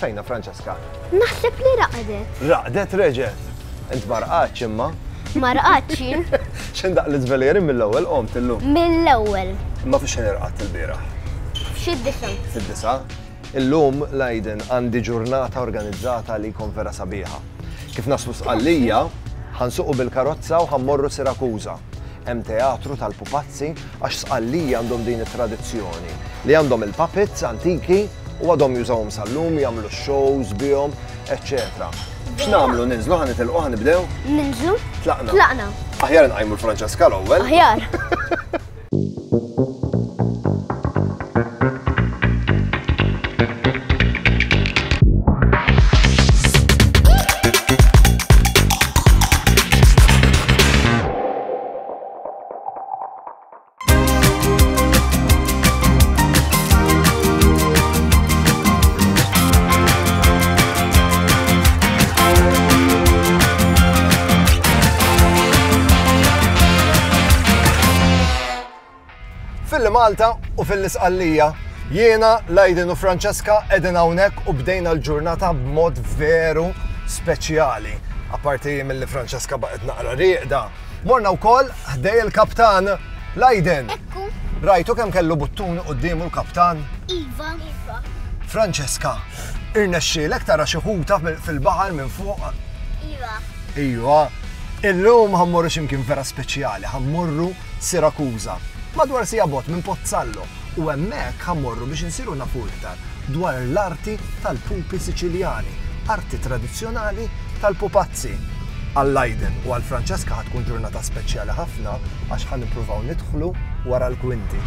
Fejna Francesca? Naħseb li raqdet. Raqdet reġet. Int marqatx imma. Marqatx jien. X'in daq l-iżvelieri mill-ewwel qomt illum. Mill-ewwel. Imma fiex xejn irqadt il-bieraħ. Fid-disa. Fid-disa. Illum l-Aiden għandi ġurnata organizzata li jkun vera sabiħa. Kif naslu sqallija, ħansuqu bil-karozza u ħammorru Sirakuża hemm teatru tal-pupazzi għax sqallija għandhom din it-tradizzjoni li għandhom il-puppets antiki U għadhom jużawhom sal-lum, jagħmlu shows bihom, eċċetera. X'nagħmlu ninżlu ħa nitilqu ħa nibdew? Ninżlu? Tlaqna. Tlaqna. Aħjar nqajmu l-Franċeska l-ewwel. Aħjar. Malta u fil-Isqallija. Jiena, Lajdin u Franceska edin hawnhekk u bdejna l-ġurnata b'mod veru speċjali. Apparti mill-li Franceska baqgħet naqra rieqda, Morna wkoll ħdej il-kaptan Lajden. Ekku. Rajtu kemm kellu buttuni quddiemu l-kaptan? Iva. Iva. Franceska, irnexxielek tara xi ħuta fil-baħar minn fuq? Iva. Iva. Illum ħammorru x'imkien vera speċjali, ħammorru Sirakuża. Madwar sija bot minn Pozzallo. u hemmhekk ħa mmorru biex insiru nafu iktar dwar l-arti tal-pupi Siċiljani, arti tradizzjonali tal-pupazzi. Għal Aiden u għal Francesca ħa tkun ġurnata speċjali ħafna għax ħa nippruvaw nidħlu wara l-kwinti.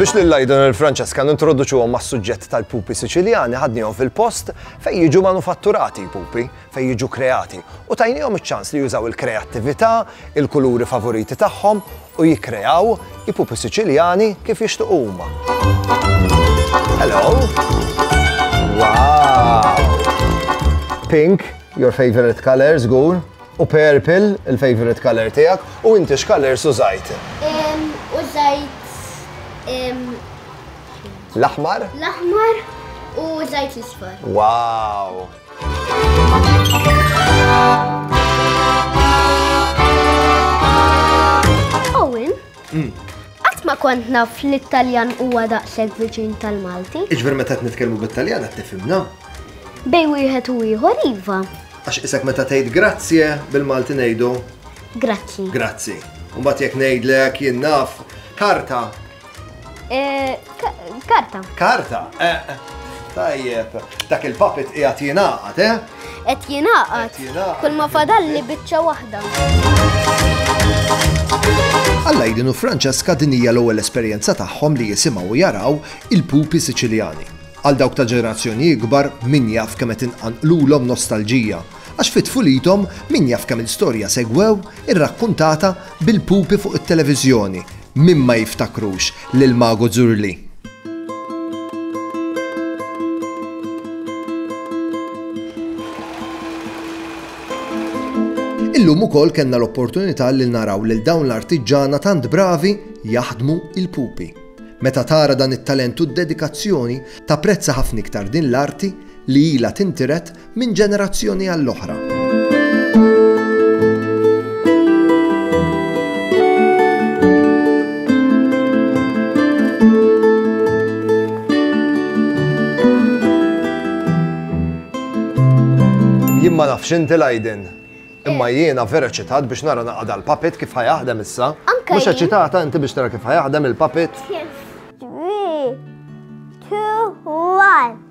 Biex lil Lydon u l-Francesca nintroduċuhom mas-suġġett tal-pupi Siċiljani ħadnihom fil-post fejn jiġu manufatturati l-pupi, fejn jiġu kreati, u tajnihom iċ-ċans li jużaw il-kreattività, il-kuluri favoriti tagħhom u jikkreaw i-pupi Siċiljani kif jixtiequ huma. Hello! Wow! Pink, your favorite color, żgur, u purple, il-favorite color tiegħek, u inti x'colors użajt? Użajt l-aħmar? L-aħmar u użajt l-isfar. Wow! ma kont naf li t-Taljan huwa daqshekk viċin tal-Malti. Iġver meta qed nitkellmu bit-Taljan qed tifhimna. Bej wieħed u ieħor iva. Għax isek meta tgħid grazie bil-Malti ngħidu. Grazzi. Grazzi. Mbagħad jekk ngħidlek jien naf karta Eh, karta. Karta? Eh, tajjeb, dak il-puppet qiegħed jingħaqad, eh? Qed jingħaqad. Kull ma fadalli biċċa waħda. Alla jidinu Franċeska din hija l-ewwel esperjenza tagħhom li jisimgħu u jaraw il-pupi Siċiljani. Għal dawk ta' ġenerazzjoni ikbar min jaf kemm qed inqanqlulhom nostalġija Għax fi tfulithom min jaf kemm-il storja segwew irrakkuntata bil-pupi fuq it-televiżjoni, min ma jiftakrux lil Mago Zurli? Illum ukoll kellna l-opportunità li naraw lil dawn l-artiġġana tant bravi jaħdmu il-pupi. Meta tara dan it-talent u d-dedikazzjoni, tapprezza ħafna iktar din l-arti li ilha tintiret minn ġenerazzjoni għall-oħra. Jien ma nafx inti lajdin. Imma eh. jiena vera ċitat biex nara naqada l-papit kif ħajaħdem issa. Mux ċitata inti biex nara kif ħajaħdem il-papit. 3, 2, 1.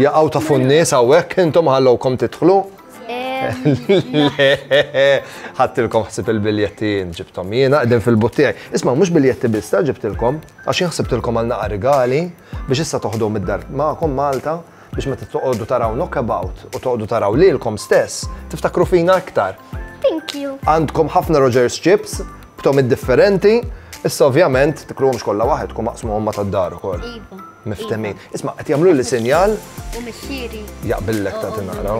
Jaqaw ta' funnis għawek, intom ħallowkom titħlu. ħattilkom ħsib il-biljetti jien ġibtom jiena qegħdin fil-buttijaj. Isma' mhux biljetti biss ta' ġibtilkom għax jien ħsibtilkom għal naqa' rigali biex issa toħdu mid-dar magħkom Malta biex meta toqgħodu taraw knockabout u toqgħodu taraw lilkom stess tiftakru fina iktar. Thank you. Għandkom ħafna Rogers chips b'tom differenti Issa ovvjament tikluhomx kollha waħed kum maqsmuhom ma tad-dar ukoll. Iva. Miftehmin. Isma' qed jagħmluli sinjal. U missieri. Jaqbillek ta' tinaqra.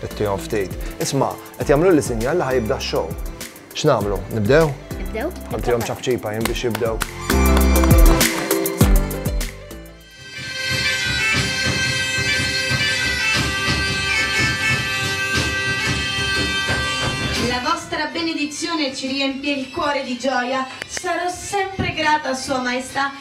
Ittihom ftit. Isma' qed jagħmluli sinjal li ħajibda x-show. X'nagħmlu? Nibdew? Nibdew. Ħantihom ċafċipa jien biex jibdew. La vostra benedizione ci riempie il cuore di gioia. Sarò sempre grata a Sua Maestà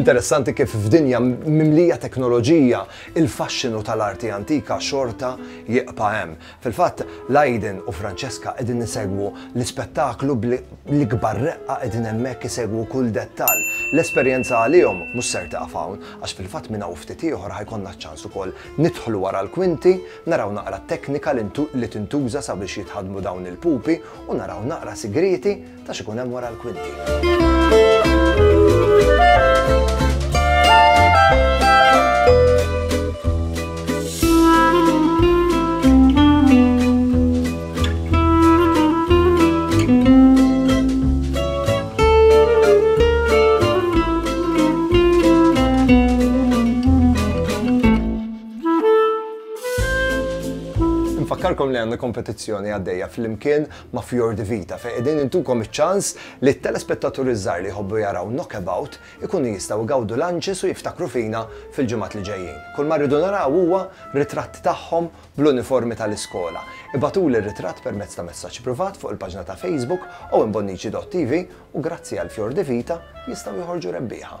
Interessanti kif f'dinja mimlija teknoloġija il-faxxinu tal-arti antika xorta jiqpa' hemm. Fil-fatt, Laiden u Francesca qegħdin nisegwu l-ispettaklu bl-ikbar reqqa qegħdin hemmhekk isegwu kull dettall. L-esperjenza għalihom mhux ser tieqaf hawn, għax fil-fatt minn hawn ftit ieħor ħajkollna ċ-ċans ukoll Nidħlu wara l-kwinti, naraw naqra t-teknika li tintuża sabiex jitħaddmu dawn il-pupi u naraw naqra sigrieti ta' x'ikun hemm wara l-kwinti. Nfakkarkom li għandna kompetizzjoni għaddejja fl-imkien ma' Fjordi Vita fejn qegħdin intukom iċ-ċans li t-telespettaturi żgħar li jħobbu jaraw knockabout ikunu jistgħu gawdu lanċis u jiftakru fina fil-ġimgħat li ġejjin. Kull ma rridu naraw huwa ritratt tagħhom bl-uniformi tal-iskola. Ibgħatuli r-ritratt permezz ta' messaġġ privat fuq il-paġna ta' Facebook owenbonnici.tv u grazzi għal Fior di Vita jistgħu joħorġu rebbieħa.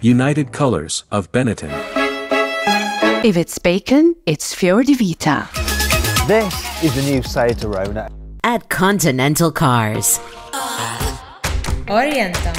United Colors of Benetton. If it's bacon, it's Fior di Vita. This is the new Seat Arona. At Continental Cars. Orienta.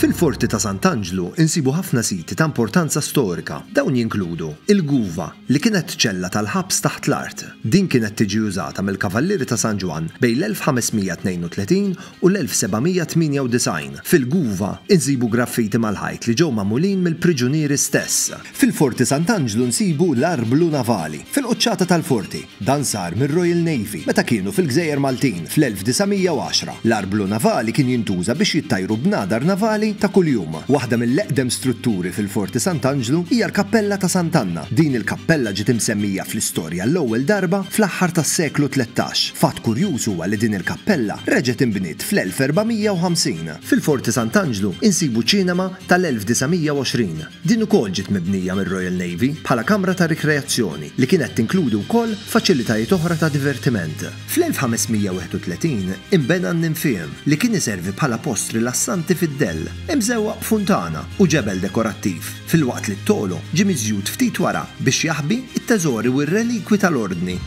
Fil-Forti ta' Sant'Anġlu insibu ħafna siti ta' importanza storika Dawn jinkludu l-guva, li kienet ċella tal-ħabs taħt l-art. Din kienet tiġi użata mill-Kavallieri ta' San Ġwann bejn l-1532 u l-1798. Fil-guva nsibu graffiti mal-ħajt li ġew magħmulin mill-priġunieri stess. Fil-Forti Sant'Anġlu nsibu l-arblu navali, fil-quċċata tal-forti. Dan sar mir-Royal Navy meta kienu fil-Gżejjer Maltin fl-1910. L-arblu navali kien jintuża biex jittajru bnadar navali ta' kuljum. Waħda mill-eqdem strutturi fil-Forti Sant'Anġlu hija l-Kappella ta' Sant'Anna. Din il-kappella ġiet imsemmija fl-istorja l-ewwel darba fl-aħħar tas-seklu tlettax. Fatt kurjuż huwa li din il-kappella reġgħet inbniet fl-1450. Fil-Forti Sant'Anġlu insibu ċinema tal-1920. Din ukoll ġiet mibnija mir-Royal Navy bħala kamra ta' rikreazzjoni li kienet tinkludi wkoll faċilitajiet oħra ta' divertiment. Fl-1531 inbena n-Ninfeum li kien iservi bħala post rilassanti fid-dell, imżewwaq b'funtana u ġebel dekorattiv, filwaqt li t-togħlo ġie miżjud ftit wara biex jaħbi t-teżori u r-relikwi tal-Ordni.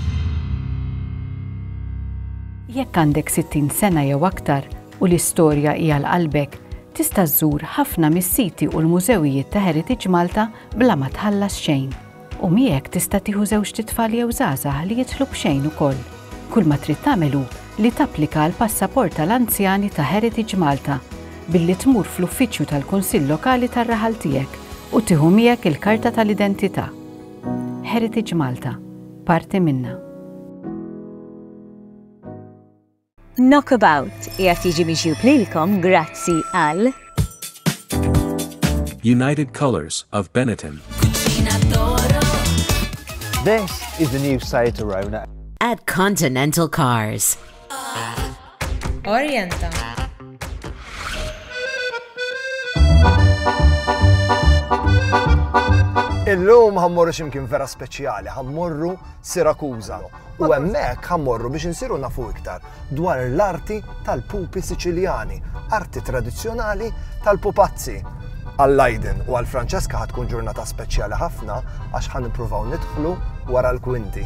Jekk għandek 60 sena jew aktar, u li storja hi għal qalbek, tista' żżur ħafna mis-siti u l-mużewijiet ta' Heritage Malta bla ma tħallas xejn. U miegħek tista' tieħu żewġt itfal jew żgħażagħ li jidħlu b'xejn ukoll. Kull ma trid tagħmel hu li tapplika għall-passaport tal-anzjani ta' Heritage Malta billi tmur fl-uffiċċju tal-Kunsill Lokali tar-raħal tiegħek u tieħu miegħek il-karta tal-identità. Heritage Malta, parti minna. Knockabout qiegħed jiġi miġjub lilkom grazzi għal. United Colours of Benetton. This is the new Seat Arona. At Continental Cars. Orienta. Illum ħammorru ximkien vera speċjali, ħammorru Sirakuza. U hemmhekk ħa mmorru biex insiru nafu iktar dwar l-arti tal-pupi Siċiljani, arti tradizzjonali tal-pupazzi. Għal Lydon u għal Francesca ħa tkun ġurnata speċjali ħafna għax ħa nippruvaw nidħlu wara l-kwinti.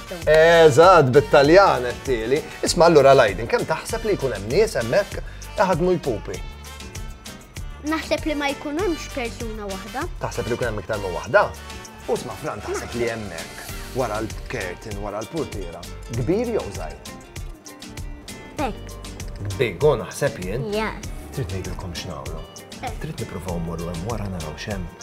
Eżatt, bit-Taljan qed tieli. Isma' allura Lajdin, kemm taħseb li jkun hemm nies hemmhekk iħadmu jpupi? Naħseb li ma jkun hemmx persuna waħda. Taħseb li jkun hemm iktar minn waħda? U sma' Fran taħseb li hemmhekk wara l-kertin, wara l-purtiera, kbir jew żgħir? Big. Big, go naħseb jien. Yes. Trid ngħidilkom x'nagħmlu. Eh. Trid nippruvaw morru hemm wara naraw x'hemm.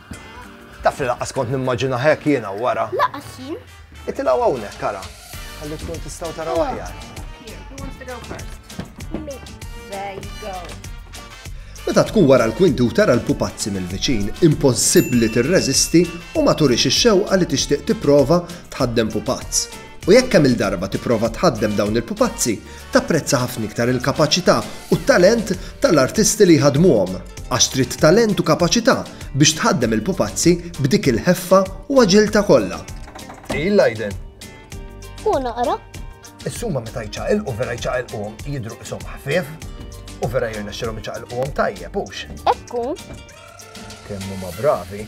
Taf li laqqas kont nimmaġinah hekk jiena wara. Laqqas jien. Itilgħu hawnhekk ara. Ħalli tkun tistgħu taraw aħjar. There you go. Meta tkun wara l-kwinti u tara l-pupazzi mill-viċin, impossibbli tirreżisti u ma turix ix-xewqa li tixtieq tipprova tħaddem pupazz. U jekk kemm il-darba tipprova tħaddem dawn il-pupazzi, Tapprezza ħafna iktar il-kapaċità u t-talent tal-artisti li jħaddmuhom, għax trid talent u kapaċità biex tħaddem il-pupazzi b'dik il-ħeffa u aġiltà kollha. Hi l-għajden. Hu naqra. Is-suma meta jċaqilqu vera jċaqilquhom jidhru qishom ħfief u vera jirnexxilhom iċaqilquhom tajjeb hux. Ekku. Kemm huma bravi.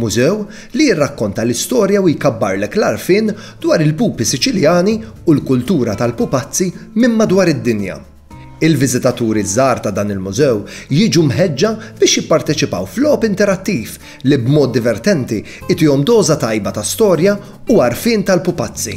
Mużew li jirrakkonta l-istorja u jkabbarlek l-għarfien dwar il-pupi Siċiljani u l-kultura tal-pupazzi minn madwar id-dinja. Il-viżitaturi ż-żgħar ta' dan il-mużew jiġu mħeġġa biex jipparteċipaw f'logħob interattiv li b'mod divertenti jtihom doża tajba ta' storja u għarfien tal-pupazzi.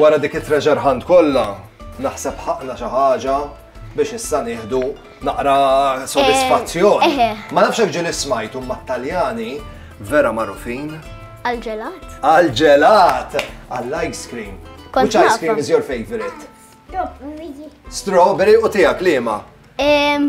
wara dik it-treasure hunt kollha, naħseb ħaqna xi ħaġa biex issa nieħdu naqra sodisfazzjon. Eh, eh. Ma nafx hekk ġieli smajtu ma Taljani vera magħrufin. Għal-ġelat. Għal-ġelat! Għall-ice cream. Which ice cream is your favorite? Strawberry. Strawberry u tiegħek liema?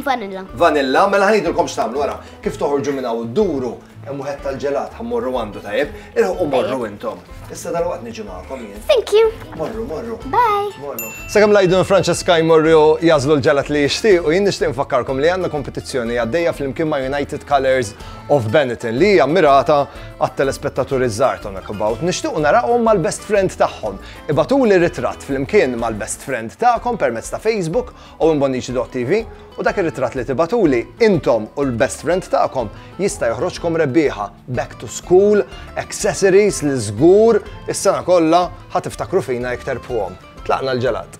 Vanilla. Vanilla, mela ħajdilkom x'tagħmlu wara. Kif toħorġu minn hawn duru Hemm wieħed tal-ġelat ħa morru għandu tajjeb, irħu morru intom. Issa dal-waqt niġi magħkom jien. Thank you. Morru, morru. Bye. Morru. Sakemm lajdun Francesca jmorru jażlu l-ġelat li jixtieq u jien nixtieq nfakkarkom li għandna kompetizzjoni għaddejja flimkien ma' United Colors of Benetton li hija mirata għat-telespettaturi żgħar ta' Knockabout. Nixtiequ narahom mal-best friend tagħhom. Ibatuli ritratt flimkien mal-best friend tagħkom permezz ta' Facebook Owen Bonnici Dot TV u dak ir-ritratt li tibatuli intom u l-best friend tagħkom jista' joħroġkom rebbieħa back to school, accessories li żgur is-sena kollha ħa tiftakru fina jekk terbħuhom. Tlaqna l-ġelat.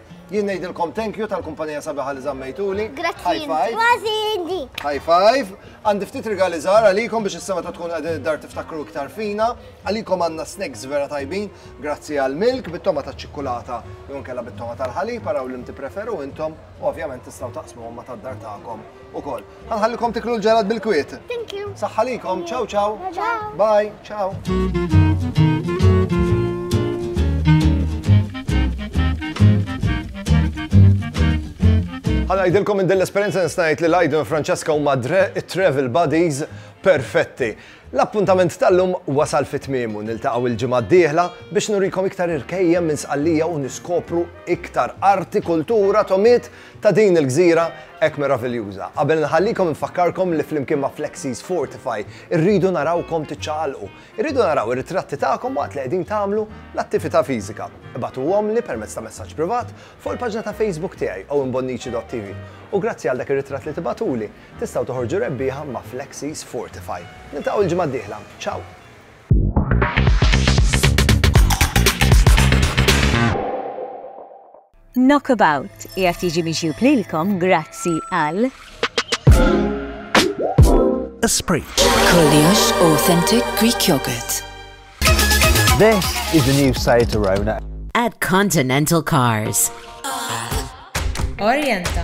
Jien ngħidilkom thank you tal-kumpanija sabiħa li żammejtuli. Grazzi. High five. Għandi ftit rigali żgħar għalikom biex is-sema ta' tkun qegħdin id-dar tiftakru iktar fina. Għalikom għandna snacks vera tajbin, grazzi għal milk bit-toma ta' ċikkulata jew kella bit-toma tal-ħalib, araw li mti preferu intom u ovvjament tistgħu taqsmu ma tad-dar tagħkom ukoll. Għanħallikom tiklu l-ġelat bil-kwiet. Thank you. Saħħalikom, ciao ciao. Ciao. Bye, ciao. Għana jidilkom minn dell-esperienza nistajt li Lajdu u Francesca u madre travel buddies perfetti. L-appuntament tal-lum wasal fit tmiemu niltaqgħu il-ġimgħa d-dieħla biex nurikom iktar irkejjem minn sqallija u niskopru iktar arti, kultura, tomiet ta' din il-gżira hekk meraviljuża. Qabel inħallikom infakkarkom li flimkien ma' Flexies Fortify irridu narawkom tiċċaqalqu. Irridu naraw ir-ritratti tagħkom waqt li qegħdin tagħmlu l-attività fiżika. Ibagħtuhomli permezz ta' messaġġ privat fuq il-paġna ta' Facebook tiegħi owenbonnici.tv. U grazzi għal dak ir-ritratt li tibagħtuli, tistgħu toħorġu rebbieħa ma' Flexies Fortify. Niltaqgħu l-ġimgħa d-dieħla. Ciao! Knockabout qiegħed jiġi miġjub lilkom grazzi għal. Esprit. Kollox authentic Greek yogurt. This is the new Seat Arona. At Continental Cars. Orienta.